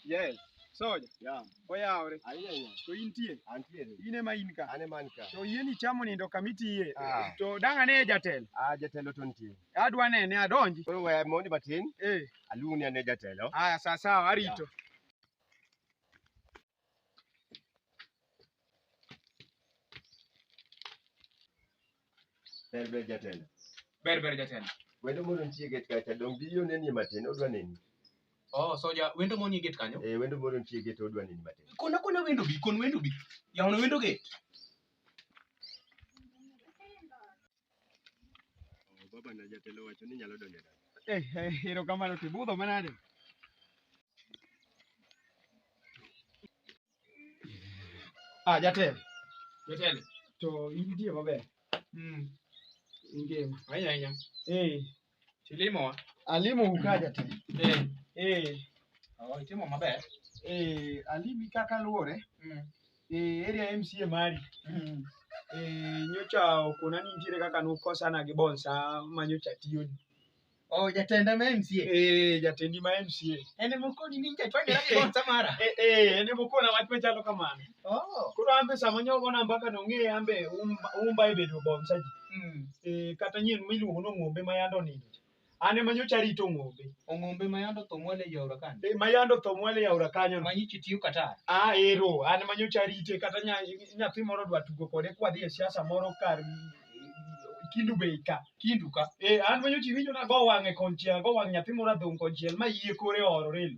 Yes. Soja. Yeah. Oyawre. Ayiya yiya. To intie. Antiere. In ema in ka. An ema an ka. To yie ni chamo nindo kamiti yie. Ah. To dang' ane jatelo. Ah, jatelo to nitie. Adwa nene adonji. Koro we mondi matin. Eh. Aluongi ane jatelo. Aya sawa sawa arito. Ber ber jatelo. Ber ber jatelo. Wendo mondo nitie get kacha dong biyo nenie matin odwa neni. Oh, soja wendo moni get kanyo? Eh, wendo mondo nitie get odwa neni matin. Kona kona wendo bi, kon wendo bi. Yawono wendo get. Baba na jatelo wacho ni nyalo donjo dala. Eh, eh, erokamano ti budho manade? Ah, jatelo. Jotelo. To intie maber? Mm. Ingima. Ahinya ahinya. Eh, Chilimo wa. Alimo ukaja te. Eh. Eh. Oh, itimo maber. Eh, alimi kaka luore. Mm. Eh, area MCA mari. Mm. Eh, nyocha okona ni nitiere kaka nukosana gi bonsa ma nyocha tiyo ni. Oh, jatenda ma MCA. Eh, jatendi ma MCA. Ene mokoni ni nyocha twende gi bonsa mara. Eh, eh, ene mokona wach machalo kamano. Oh. Koro ambe sama nyogo na mbaka nong'e ambe umba, umba ibedo bonsa ji. Mm. eh, kata nyien miluongo ni ong'ombe ma yande onindo cha. an ema nyocha arito ong'ombe Ong'ombe ma yande otho mwale ei aora kani. Eh, ma yande otho mwale e aora kanyo no. Manyichi tiyo kata. ah ero an ema nyocha arite kata nya- nyathi moro dwa tugo kode kwadhi e siasa moro kar kindu bei ka Kindu ka. Eh, an manyo chi winjo na go wang'e konchiel, go wang' nyathi moro adhong' konchiel ma yie kore ororelo.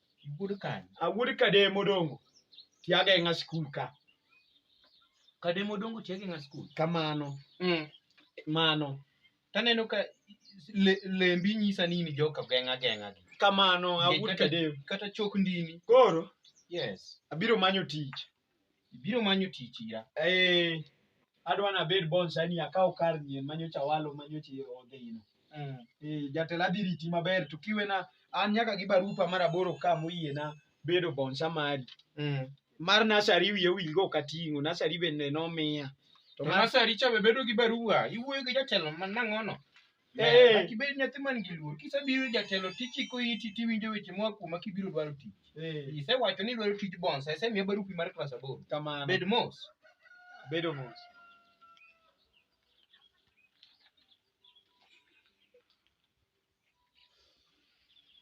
Iwuod kanye? awuod kadem odongo tiageng'a skul ka Kademo dongo tiagi ng'a skul. kamano mm. mano Taneno ka le, lembi nyisa ni in joka geng'a geng'a gi. kamano Nge- awuod kata- kadem Kata chok ndini. koro Yes. abiro manyo tich Ibiro manyo tich ira. Eh, adwa nabed bonsa ni akaw kar nyien manyocha walo manyocha odhi ino. Mm. Eh, jatelo adhi riti maber to kiwena an nyaka gi barupa mar aboro ka moyiena bedo bonsa mari. Mm. Mar nasari wiye wilgo ok ating'o, nasari bende nomiya. To To mar nasari cha be bedo gi barua. Iwuoyo gi jatelo ma nang'ono. Eh. Nyaka ibed nyathi man gi luor. Kisebiro ir jatelo tichiko iti tiwinjo weche moa kuoma kibiro dwaro tich. Eh, Isewacho ni idwaro tij bonsa, isemiya barupi mar klas aboro. kamano. Bed mos. Bedo mos.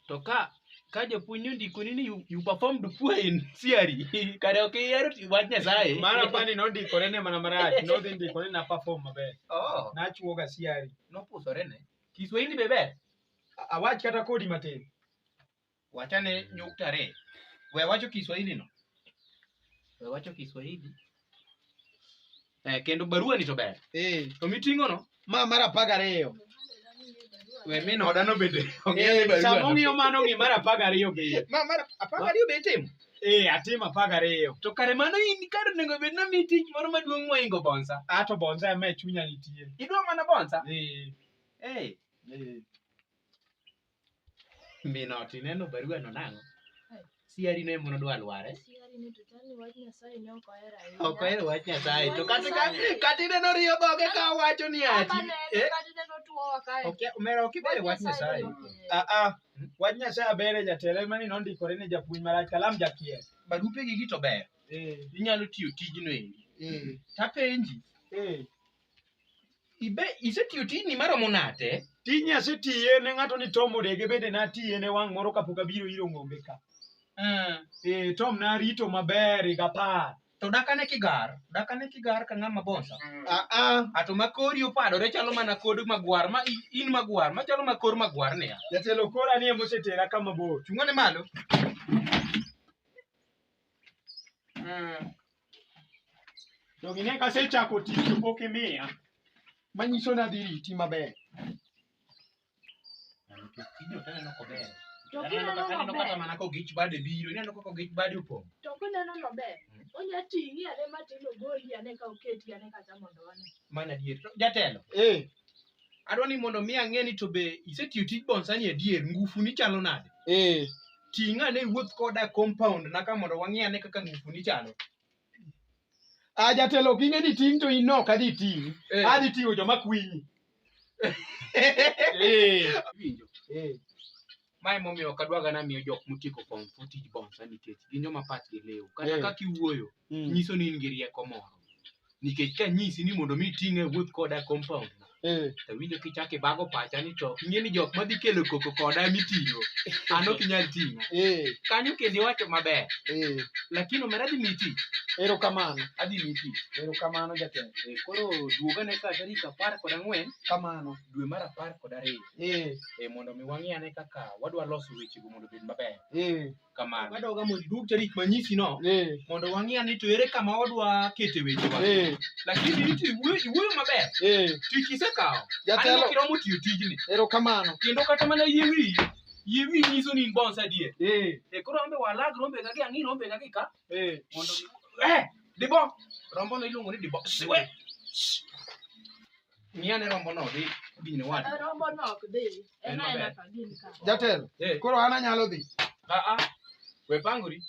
To ka ka japuonj ondikoni ni you, you performed poor in theory kare ok ihero ti- wach Nyasaye. Mara pani nondikore ne mana marach, nodhi ndikore na perform maber. Oh, Nachuoga siari. nopusore ne. Kiswahili be ber. A- Awach kata kodi matin. Wachane nyukta re. We wacho Kiswahili no. We wacho Kiswahili. Eh, kendo barua ni to ber Eh, to miting'o no ma mar apar gariyo we min oda no bende ong'eyo ni Eh, barua sama no. ong'iyo mano ong'i mar apar gariyo be ma mar apar gariyo be itimo eh atimo apar gariyo to kare mano in kar onego bed na mi tich moro maduong' moingo bonsa ato bonza ema e chunya nitie idwa mana bonsa eh eh eh Minot, ineno barua no nang'o? Siari ne mondo dwa lware. Siari ni to chani wach Nyasaye ne ok ohero ahinya. Ok ohero wach Nyasaye to kata ka kata ineno riyo dhoge ka wacho ni ati. Kata ne- Eh, kata ne notuowa kae. ok omera ok ibere wach Nyasaye. ne ok- Ah ah. Wach Nyasaye abere jatelo ema ni nondikore ne japuonj marach kalam jakier. Barupe gi gi to ber. Eh, Inyalo tiyo tijno endi. eh, Tapenji, eh. Ibe isetiyo tijni maromo nade? Tijni asetiye ne ng'ato ni Tom Odege bende natiye ne wang' moro kapok abiro iro ng'ombe ka. Mm. Eh, Tom narito maber higa apar. To dakane kigar, dakane kigar ka ng'ama bonsa. Ah, ah, Ato ma kori opadore chalo mana kod magwar ma i- in magwar ma chalo ma kor magwar niya. jatelo kora ni emosetera kama bor. Chung'ane malo. Mm. To gine kasechako tich to pok imiya. Manyiso ni adhi riti maber. Nikech tijni ok aneno kober. To Aneno kineno kaka- aneno kata maber, mana kogich bade biro, ineno kaka ogich bade opong'. to kineno maber, onya ting'i ane matin ogoli ane ka oketi ane kata mondo one. Mana adier. To Jatelo, Eh, adwa ni mondo mi ang'e ni to be isetiyo tij bonsani adier ngufu ni chalo nade eh ting'a ne wuoth koda e compound na ka mondo wang'e ane kaka ngufu ni chalo a jatelo ok ing'e ni ting' to in ok adhi ting' Eh. adhi ting'o joma kwinyi Eh, winjo eh, Mae momiyo ok adwaga na miyo jok motieko form four tij bouncer nikech gin joma pachgi lew. Kata Eh. kaka iwuoyo, Mm. nyiso ni in gi rieko moro. Nikech ka nyisi ni mondo mi iting'e wuoth koda e compound na, Eh. to winjo kichako ibago pacha ni to ing'e ni jok madhi kelo koko koda miting'o, an ok inyal ting'a. Eh. Kanyo kendo iwacho maber, Eh. lakini omera adhi miyi tich, Erokamano. adhi miyi tich. Erokamano jatelo. Eh, Koro duogane ka tarik apar kod ang'wen Kamano. dwe mar apar kod ariyo. Eh, eh, mondo mi wang'i ane kaka wadwa loso wechego mondo obed maber eh, kamano wadoga mondo iduog tarik manyisi no eh, mondo wang'i ane to ere kama wadwa kete wechewa eh, lakini niti iwuoyo iwuoyo maber eh. tich isekawo aneno Jatelo, kiromo tiyo tijni erokamano. kendo kata mana yie wiyi yie wiyi nyiso ni in bons adier Eh, e koro ambe walag rombega gi ang'i rombega gi ka eh. mondo eh dibo rombo no iluongo ni dibo siwe Ng'i ane rombono dhi dhi ne wadu. Rombo no ok dhi. En En aena maber. ka gin ka. Jatelo, Eh, koro an anyalo dhi. a a we pangori.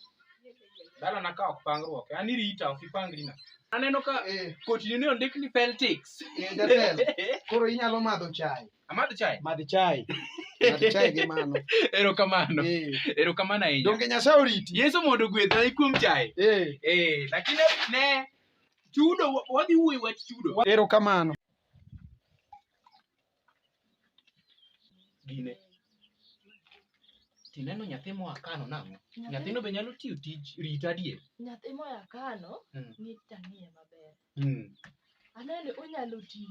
Dala na ka ok pangruok. An irita ok ipangri na. Aneno ka Eh, kotini ne ondik ni Peltics. eh, jatelo, koro inyalo madho chai. Amadh chai. Madh chai. Madh chai gi mano. Erokamano. Eh, Erokamano ahinya. Donge Nyasaye oriti? Yesu mondo ogwedha kuom chai. Eh, Eh, lakini ne Chudo, wa- wadhi wuoyo wach chudo. Erokamano. Gine. Tineno nyathi moa Kano nang'o? Nyathino be nyalo tiyo tij rita adier. nyathi moya kano Mm. ni tanie maber Mm. anene onyalo tiyo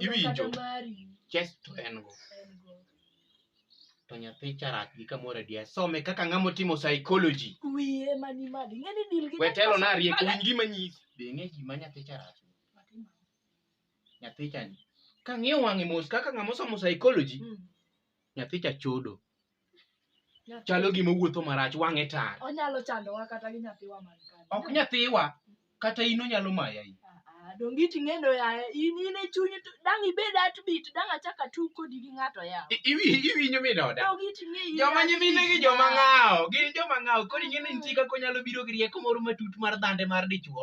Iwinjo? Kata mari Yes, to en go. en go. To nyathi charach gi kamoro adier. Some kaka ng'ama otimo psychology. Wiye mani madi. Ng'eni dil gi We telo na rieko winy gima nyisi. Be ng'e gima nyathi charach. Nyathi chani. Ka ng'iyo wang'e mos kaka ng'ama osomo psychology, Mm. nyathi cha chodo chalo gima wuotho marach wang'e tar onyalo chandowa kata gi nyathiwa man kani ok nyathiwa kata in onyalo maya in Ah, ah, donge iti ng'endo yaye in in e chunyi to dang' ibed atbit dang' achak atug kodi gi ng'ato ya I- iwi- iwinjo min oda donge iti ng'e in joma atbit nyimine gi joma yaye. ng'awo gin joma ng'awo koro ing'e ni nitie kaka onyalo biro gi rieko moro matut mar dhande mar dichwo